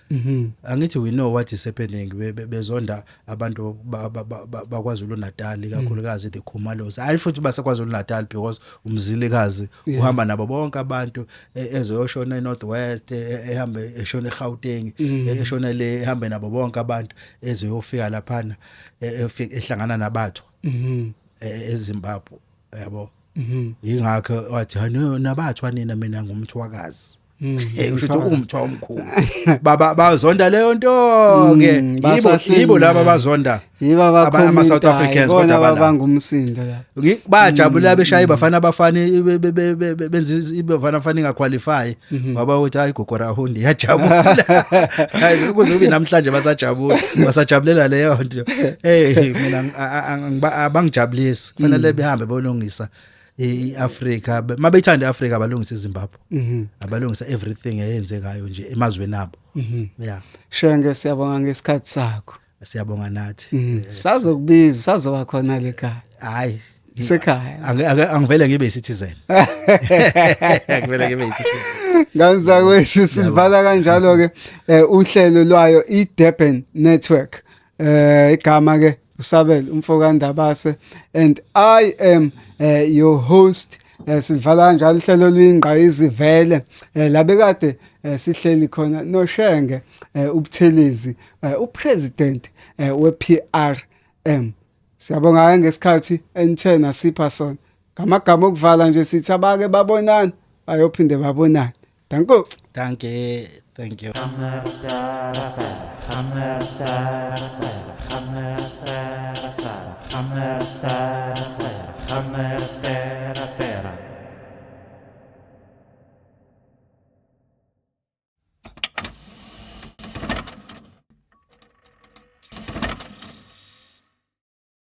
Mhm. angithi we know what is happening be- be- bezonda abantu ba- ba- ba- ba- baKwaZulu Natal ikakhulukazi the Khumalos hayi futhi baseKwaZulu Natal because umzilikazi uhamba nabo bonke abantu e- ezoyoshona eNorth West ehambe eshona eGauteng e- eshona le ehambe nabo bonke abantu ezoyofika laphana e- efika- ehlangana nabathwa Mhm. e- eZimbabwe yabo Mhm. ingakho wathi "Ha, no, nabathwa nina mina ngumthwakazi Mm, hey usho ukuthi umthwa omkhulu baba bazonda leyo nto ke Mm, yibo basahleli yibo laba nayo. bazonda yiba Ama South Africans kodwa abana- bangumsindo la Ngi- bajabula beshaye bafana abafana be- be- be- be- be- benza izi- ibafana afana ingaqualify baba uthi hayi gogora hundi yajabula hayi kuze kube namhlanje basajabula basajabulela leyo nto hey mina ang- a- a- angiba- abangijabulisi kufanele behambe bolungisa iAfrica mabeyithanda iAfrica abalungisa iZimbabwe mhm. abalungisa everything eyenzekayo nje emazweni abo mhm. yeah shenge siyabonga ngesikhathi sakho siyabonga nathi mhm. sazokubiza sazoba khona lekhaya hayi sekhaya angivele ngibe isithizeni angivele ngibe isithizeni nganzakwethu sivala kanjalo ke eh, uhlelo lwayo iDurban Network eh igama ke usabel umfo kaNdabase and I am uh, your host eh sivala kanjalo ihlelo lwingqa izivele eh labekade eh, sihleli khona noshenge eh, ubuthelezi eh, upresident eh, wePRM siyabonga ngesikhathi enithena sipha sona ngamagama okuvala nje sithi abake babonana bayophinde babonane Danko. Danke. Thank you.